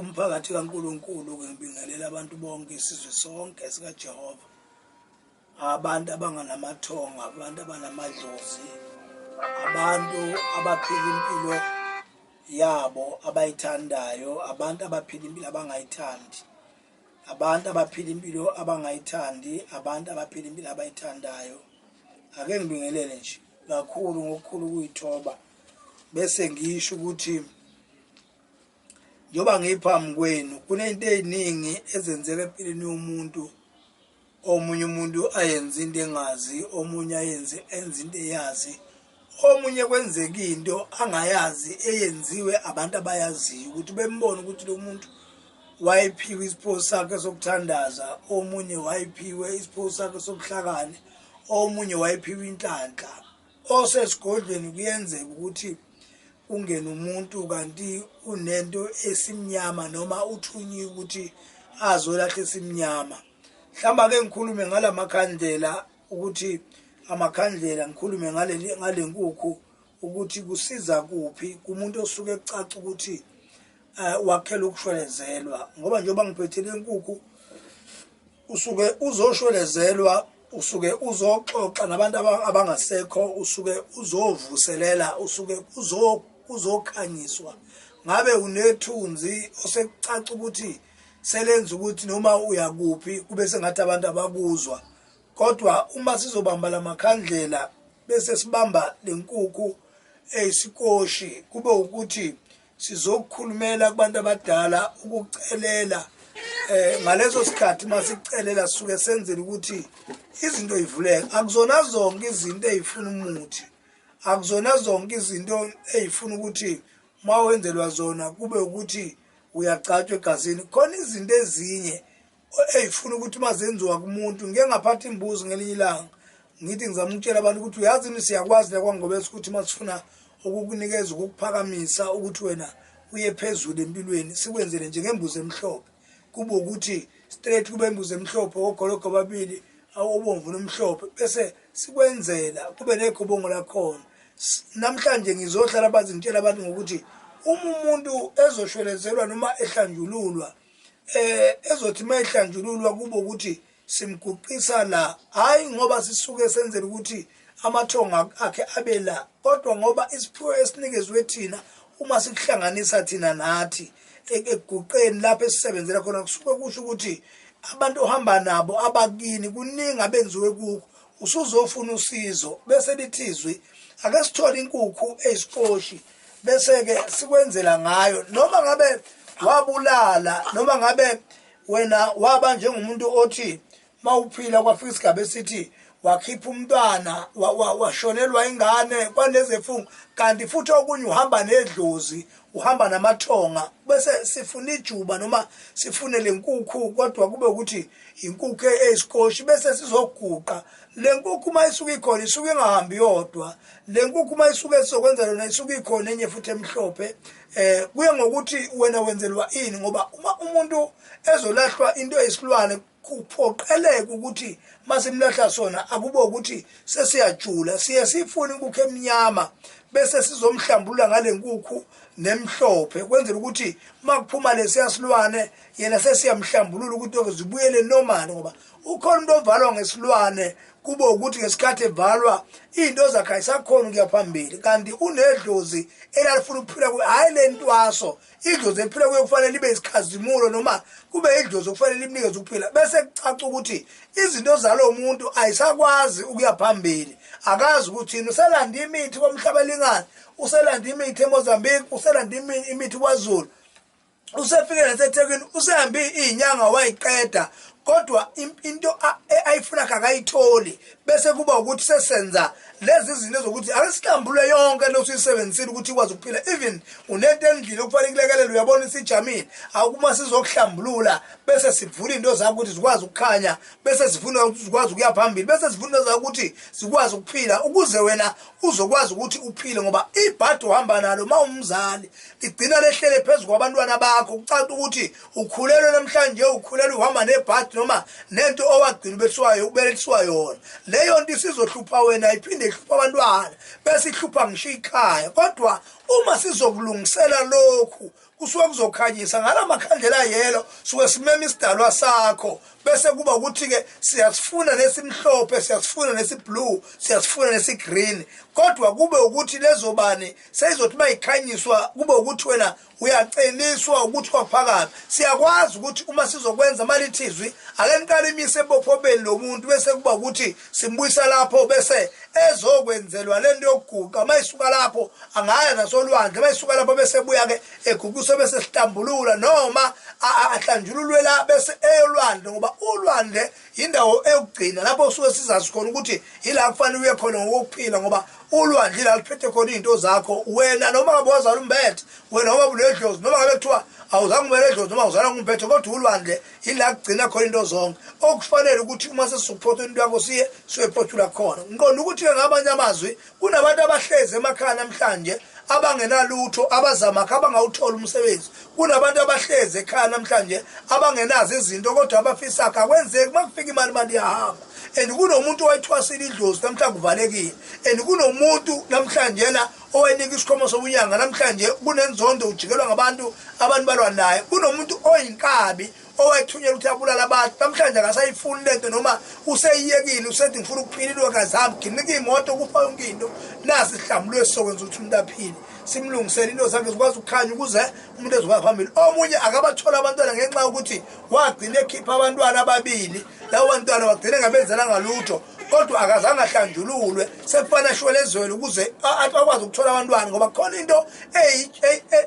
Umphakathi kaNkulunkulu ke ngibingelela abantu bonke isizwe sonke sikaJehova. Abantu abanganamathongo, abantu abanamadlozi, abantu abaphila impilo yabo abayithandayo, abantu abaphila impilo abangayithandi. Abantu abaphila impilo abangayithandi, abantu abaphila impilo abayithandayo. Ake ngibingelele nje kakhulu ngokukhulu ukuyithoba bese ngisho ukuthi Njengoba ngiphambi kwenu kunento eziningi ezenzeka empilweni yomuntu omunye umuntu ayenze into engazi omunye ayenze enze into eyazi omunye kwenzeka into angayazi eyenziwe abantu abayaziyo ukuthi bembone ukuthi lo muntu wayephiwe isipho sakhe sokuthandaza omunye wayephiwe isipho sakhe sobuhlakani omunye wayephiwe inhlanhla osesigodlweni kuyenzeka ukuthi ungene umuntu kanti unento esimnyama noma uthunyiwe ukuthi azolahle esimnyama hlamba ke ngikhulume ngalamakhandlela ukuthi amakhandlela ngikhulume ngaleli ngalenkukhu ukuthi kusiza kuphi kumuntu osuke ecaca ukuthi eh, wakhela ukushwelezelwa ngoba njengoba ngiphethile inkukhu usuke uzoshwelezelwa usuke uzoxoxa nabantu abangasekho usuke uzovuselela usuke uzokhanyiswa ngabe unethunzi osekucaca ukuthi selenza ukuthi noma uyakuphi kube sengathi abantu abakuzwa kodwa uma sizobamba lamakhandlela bese sibamba lenkukhu eyisikoshi kube ukuthi sizokukhulumela kubantu abadala ukucelela eh ngaleso sikhathi masicelela suke senzele ukuthi izinto ivuleke akuzona zonke izinto ezifuna umuthi akuzona zonke izinto ezifuna ukuthi mawenzelwa zona kube ukuthi uyagcatshwa egazini khona izinto ezinye Hey funa ukuthi mazenziwa kumuntu ngike ngaphatha imbuzo ngelinye ilanga ngithi ngizama ukutshela abantu ukuthi uyazi ni siyakwazi la kwangobese ukuthi masifuna ukukunikeza ukukuphakamisa ukuthi wena uye phezulu empilweni sikwenzele nje ngembuzo emhlophe kube ukuthi straight kube imbuzo emhlophe ogologo babili awobomvu nomhlophe bese sikwenzela kube negobongo lakhona namhlanje ngizohlala bazintshela abantu ngokuthi uma umuntu ezoshwelezelwa noma ehlanjululwa eh ezothi mayihlanjululwa kubo ukuthi simguqisa la hayi ngoba sisuke senzela ukuthi amathonga akhe abe la kodwa ngoba isiphiwo esinikezwe thina uma sikuhlanganisa thina nathi ekuguqeni lapho esisebenzela khona kusuke kusho ukuthi abantu ohamba nabo abakini kuningi abenziwe kukho usuzofuna usizo bese lithi izwi ake sithole inkukhu eyisiposhi bese-ke sikwenzela ngayo noma ngabe wabulala noma ngabe wena waba njengomuntu othi mawuphila kwafika isigaba esithi wakhipha umntwana washonelwa ingane kwanezefungo kanti futhi okunye uhamba nedlozi uhamba namathonga bese sifuna ijuba noma sifune lenkukhu kodwa kube ukuthi inkukhu eyisikoshi bese sizoguqa lenkukhu uma isuka ikhona isuke ingahambi yodwa lenkukhu uma isuke sizokwenza lona isuke ikhona enye futhi emhlophe eh kuye ngokuthi wena wenzelwa ini ngoba uma umuntu ezolahlwa into eyisilwane kuphoqeleka ukuthi masimlahla sona akube ukuthi sesiyajula siye sifune inkukhu emnyama bese sizomhlambulula ngale nkukhu nemhlophe kwenzela ukuthi makuphuma lesiya silwane yena sesiyamhlambulula ukuthi oke zibuyele normal ngoba ukhona umuntu ovalwa ngesilwane kube ukuthi ngesikhathi evalwa into zakhe ayisakhona ukuya phambili kanti unedlozi elalifuna ukuphila hhayi le ntwaso idlozi eliphila kuyo kufanele libe isikhazimulo noma kube idlozi okufanele limnikeze ukuphila bese kucaca ukuthi izinto zalowo muntu ayisakwazi ukuya phambili akazi ukuthini uselanda imithi komhlaba elingani uselanda imithi emozambique uselanda imithi kwazulu usefike nasethekwini usehambe iy'nyanga wayiqeda kodwa into e, ayifuna kakayitholi bese kuba ukuthi sesenza lezi zinto zokuthi ake sihlambulwe yonke into osuyisebenzisile ukuthi ikwazi ukuphila even unento endlini okufanele kulekelele uyabona isijamile awukuma sizokuhlambulula bese sivula into zakho ukuthi zikwazi ukukhanya bese sifuna ukuthi zikwazi ukuya phambili bese sifuna into zakho ukuthi zikwazi ukuphila ukuze wena uzokwazi ukuthi uphile ngoba ibhadi ohamba nalo uma umzali ligcina lehlele phezu kwabantwana bakho kucaca ukuthi ukhulelwe namhlanje ukhulelwe uhamba nebhathi noma nento owagcina ubethiwayo ubelethiswa yona leyo nto isizohlupha wena iphinde ihlupha abantwana bese ihlupha ngisho ikhaya kodwa uma sizokulungisela lokhu kusuke kuzokhanyisa ngala makhandlela yelo suke simema isidalwa sakho bese kuba ukuthi-ke siyasifuna nesimhlophe siyasifuna nesiblue siyasifuna nesigreen kodwa kube ukuthi lezobani seyizothi uma yikhanyiswa kube ukuthi wena Uyaceliswa ukuthi kwaphakame. Siyakwazi ukuthi uma sizokwenza malithizwi ake niqale imise ebophobeni lomuntu bese kuba ukuthi simbuyisa lapho bese ezokwenzelwa lento yokuguqa mayisuka lapho angaya nasolwandle mayisuka lapho bese buya ke eguqiswe bese sihlambulula noma ahlanjululwe la bese eyolwandle ngoba ulwandle yindawo eyokugcina lapho suke sizazi khona ukuthi yila kufanele uye khona ngokuphila ngoba ulwandle la liphethe khona izinto zakho wena noma ngabe wazala umbethe wena noma buledlozi noma ngabe kuthiwa awuzange ubeledlozi noma uzala ngumbethe kodwa ulwandle yila kugcina khona into zonke okufanele ukuthi uma sesizokuphothula into yakho siye siyoyiphothula khona ngiqonda ukuthi-ke ngamanye amazwi Kunabantu abahlezi emakhaya namhlanje abangenalutho abazamakha abangawuthola umsebenzi kunabantu abahlezi ekhaya namhlanje abangenazo izinto kodwa abafisa kha kwenzeki uma kufika imali imali iyahamba and kunomuntu owayithwasile idlozi namhlanje kuvalekile and kunomuntu namhlanje la owayenika isikhomo sobunyanga namhlanje kunenzondo ujikelwa ngabantu abantu balwa naye kunomuntu oyinkabi owayethunyelwa ukuthi abulala abantu namhlanje akasayifuni lento noma useyiyekile usethi ngifuna ukuphila ilwekazi hamba ginika iy'moto kufa yonke into nasi sihlambulu esizokwenza ukuthi umuntu aphile simlungisele into zakhe zikwazi ukukhanya ukuze umuntu ezokwazi phambili omunye akabathole abantwana ngenxa yokuthi wagcina ekhipha abantwana ababili lawo bantwana wagcine ngabenzela ngalutho kodwa akazange ahlanjululwe sekufana ashwele ezweni ukuze akwazi ukuthola abantwana ngoba khona into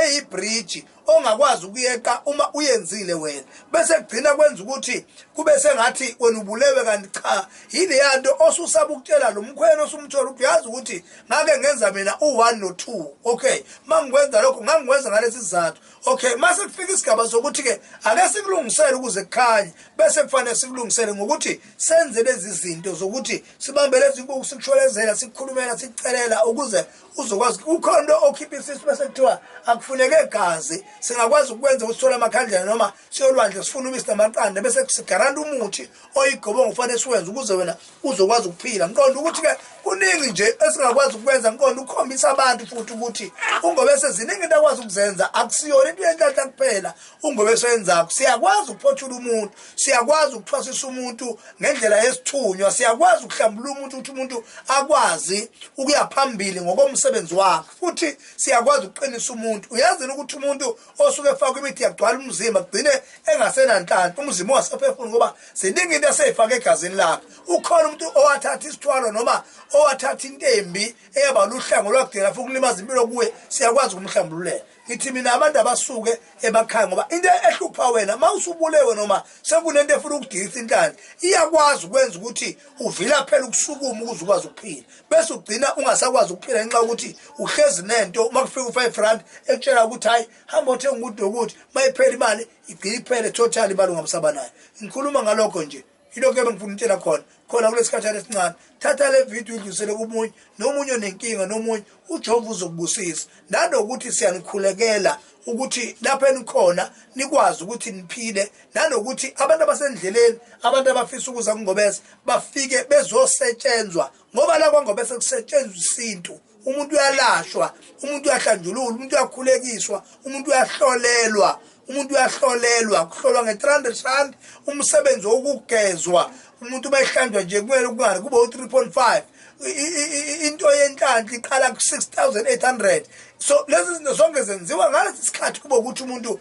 eyibhriji ongakwazi ukuyeqa uma uyenzile wena bese kugcina kwenza ukuthi kube sengathi wena ubulewe kanti cha yileya nto osusaba ukutshela lo mkhwena osumthola ukuthi uyazi ukuthi ngake ngenza mina u-one no-two okay uma ngikwenza lokho ngangikwenza ngalesi sizathu okay uma sekufika isigaba sokuthi-ke ake sikulungisele ukuze kukhanye bese kufanele sikulungisele ngokuthi senze lezi zinto zokuthi sibambe lezi nkukhu sikushwelezela sikukhulumela sikucelela ukuze uzokwazi kukhona into okhipha isisu bese kuthiwa akufuneke gazi singakwazi ukwenza ukusithola amakhandlela noma siyolwandle sifuna ubisi namaqanda bese sigaranta umuthi oyigobongo kufanele siwenze ukuze wena uzokwazi ukuphila ngiqonda ukuthi-ke kuningi nje esingakwazi ukwenza ngiqonda ukukhombisa abantu futhi ukuthi ungobe seziningi into akwazi ukuzenza akusiyona into yenhlanhla kuphela ungoba esenzako siyakwazi ukuphothula umuntu siyakwazi ukuthwasisa umuntu ngendlela yesithunywa siyakwazi ukuhlambulula umuntu ukuthi umuntu akwazi ukuya phambili ngokomsebenzi wakhe futhi siyakwazi ukuqinisa umuntu uyazini ukuthi umuntu osuke efakwa imithi yagcwala umzimba kugcine engasenanhlanhla umzimba ungasafefuni ngoba ziningi into eseyifake egazini lakhe ukhona umuntu owathatha isithwalo noma owathatha intembi eyaba luhlango lwakudela futhi kulimaza impilo kuwe siyakwazi ukumhlambululela Ngithi mina abantu abasuke emakhaya ngoba into ehlupha wena uma usubulewe noma sekunento efuna ukudilisa inhlanhla iyakwazi ukwenza ukuthi uvila phela ukusukuma ukuze ukwazi ukuphila bese ugcina ungasakwazi ukuphila ngenxa yokuthi uhlezi nento uma kufika u-five rand ekutshela ukuthi hhayi hamba othenga ukuthi nokuthi uma iphela imali igcine iphele total imali ungamsaba nayo ngikhuluma ngalokho nje ilokhu ebengifuna utshela khona khona kulesikhathana esincane thatha le video idlulisele komunye nomunye onenkinga nomunye ujehova uzokubusisa nanokuthi siyanikhulekela ukuthi lapho enikhona nikwazi ukuthi niphile nanokuthi abantu abasendleleni abantu abafisa ukuza kungobese bafike bezosetshenzwa ngoba la kwangobese kusetshenzwa isintu umuntu uyalashwa umuntu uyahlanjululwa umuntu uyakhulekiswa umuntu uyahlolelwa umuntu uyahlolelwa kuhlolwa nge-300 rand umsebenzi wokugezwa umuntu uma ehlanjwa nje kumele kungani kube u-3 point five into yenhlanhla iqala ku-six thousand eight hundred so lezi zinto zonke zenziwa ngalesi sikhathi kube ukuthi umuntu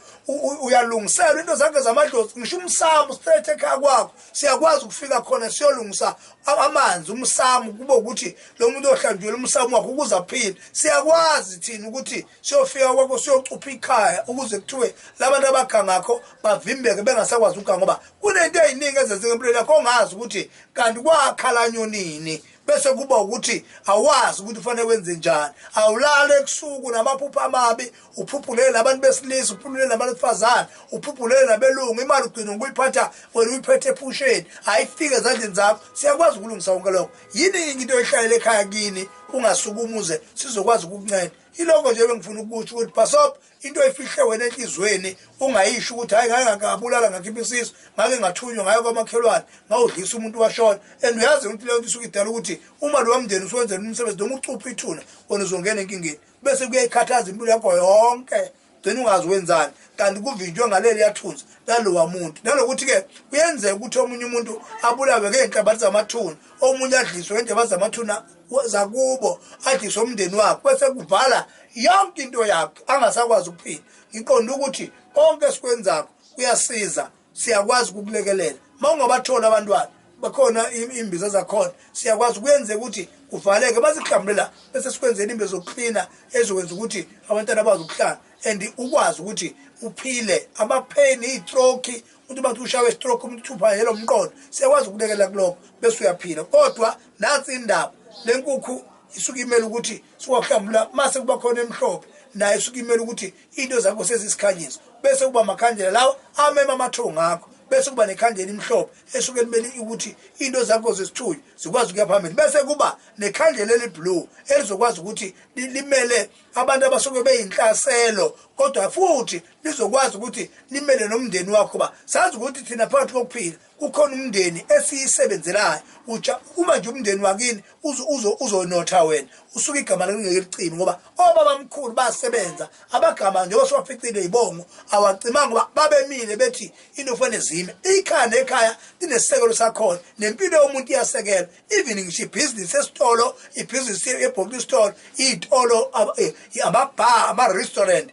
uyalungiselwa into zakhe zamadlozi ngisho umsamo straight ekhaya kwakho siyakwazi ukufika khona siyolungisa amanzi umsamu kube ukuthi lo muntu ohlanjwela umsamu wakhe ukuze aphile siyakwazi thina ukuthi siyofika kwakho siyocupha ikhaya ukuze kuthiwe labantu abakha ngakho bavimbeke bengasakwazi ukuganga ngoba kunento eziningi ezenzeka empilweni yakho ongazi ukuthi kanti kwakhalanyonini bese kuba ukuthi awazi ukuthi ufanele wenze njani awulale ebusuku namaphupho amabi uphuphulele nabantu besilisa uphuphulele nabantu besifazane uphuphulele nabelungu imali ugcina ngokuyiphatha wena uyiphethe ephusheni ayifike ezandleni zakho siyakwazi ukulungisa konke lokho yini into oyihlalele ekhaya kini ungasuke umuze sizokwazi ukukunceda iloko nje bengifuna ukukusho ukuthi bhasob into oyifihle wena enhlizweni ungayisho ukuthi hayi ngake ngabulala ngakhipha isisu ngake ngathunywa ngayo kwamakhelwane ngawudlisa umuntu washona and uyazi ukuthi leyo nto isuke idala ukuthi uma lowa mndeni usuwenzela umsebenzi noma ucupha ithuna wona uzongena enkingeni bese kuyayikhathaza impilo yakho yonke gcina ungazi wenzani kanti kuvinjwe ngaleli yathunzi lalowa muntu nalokuthi-ke kuyenzeka ukuthi omunye umuntu abulawe ngey'nhlabathi zamathuna omunye adliswe ngey'nhlabathi zamathuna zakubo adise umndeni wakhe bese kuvala yonke into yakhe angasakwazi ukuphila ngiqonda ukuthi konke esikwenzako kuyasiza siyakwazi ukukulekelela uma ungabatholi abantwana bakhona imbiza zakhona siyakwazi kuyenzeka ukuthi kuvaleke bazihlambule la bese sikwenzela imbiza zokuklina ezokwenza ukuthi abantwana bazi ukuhlala and ukwazi ukuthi uphile amapheni iy'troki umuntu bathi ushawe istroke umuntu uthupha yelo mqondo siyakwazi ukulekelela kulokho bese uyaphila kodwa nansi indaba lenkukhu isuke imele ukuthi siwahlambula mase kuba khona emhlophe naye isuke imele ukuthi into zakho sezisikhanyiso bese kuba makhandlela lawo amema amathongo akho bese kuba nekhandlela imhlophe esuke limele ukuthi into zakho zesithunywa zikwazi ukuya phambili bese kuba nekhandlela eliblue elizokwazi ukuthi limele abantu abasuke beyinhlaselo kodwa futhi lizokwazi ukuthi limele nomndeni wakho ba sazi ukuthi thina phakathi kokuphila Kukhona umndeni esiyisebenzelayo uja uma nje umndeni wakini uzo uzo uzonotha wena usuke igama lakungeke licime ngoba obaba mkhulu basebenza abagama nje oswaficile ibongo awacimanga ngoba babemile bethi into kufanele zime ikhaya nekhaya linesekelo sakhona nempilo yomuntu iyasekelwa even ngisho ibhizinisi esitolo ibhizinisi ebhoki store itolo eh, amabha ama restaurant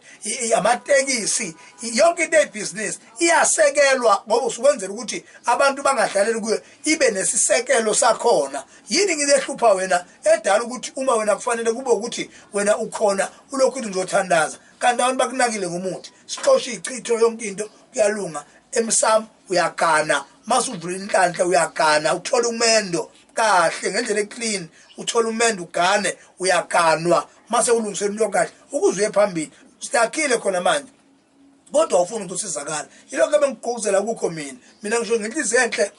amatekisi yonke into ebhizinisi iyasekelwa ngoba usukwenzela ukuthi abantu bangadlaleli kuyo ibe nesisekelo sakhona yini ngilehlupha wena edala ukuthi uma wena kufanele kube ukuthi wena ukhona ulokhu uthi ngizothandaza kanti abantu bakunakile ngomuthi sixoshe ichitho yonke into kuyalunga emsamo uyagana masuvula inhlanhla uyagana uthola umendo kahle ngendlela eclean uthola umendo ugane uyaganwa mase ulungisela into kahle ukuze uye phambili sidakhile khona manje kodwa ufuna ukuthi usizakala yilokho ebengigquguzela kukho mina mina ngisho ngenhliziyo enhle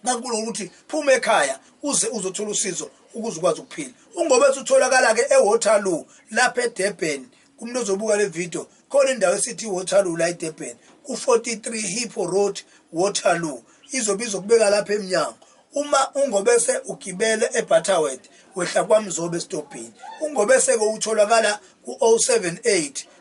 kankulu ukuthi phuma ekhaya uze uzothola usizo ukuze ukwazi ukuphila ungobe sutholakala-ke ewaterloo lapha edurban kumuntu ozobuka le video khona indawo esithi iwaterloo la edurban ku-43 hippo road waterloo izobe izokubeka lapha emnyango uma ungobese ugibele ebutterword wehla kwamzobe esitobhini ungobese-ke utholakala ku-078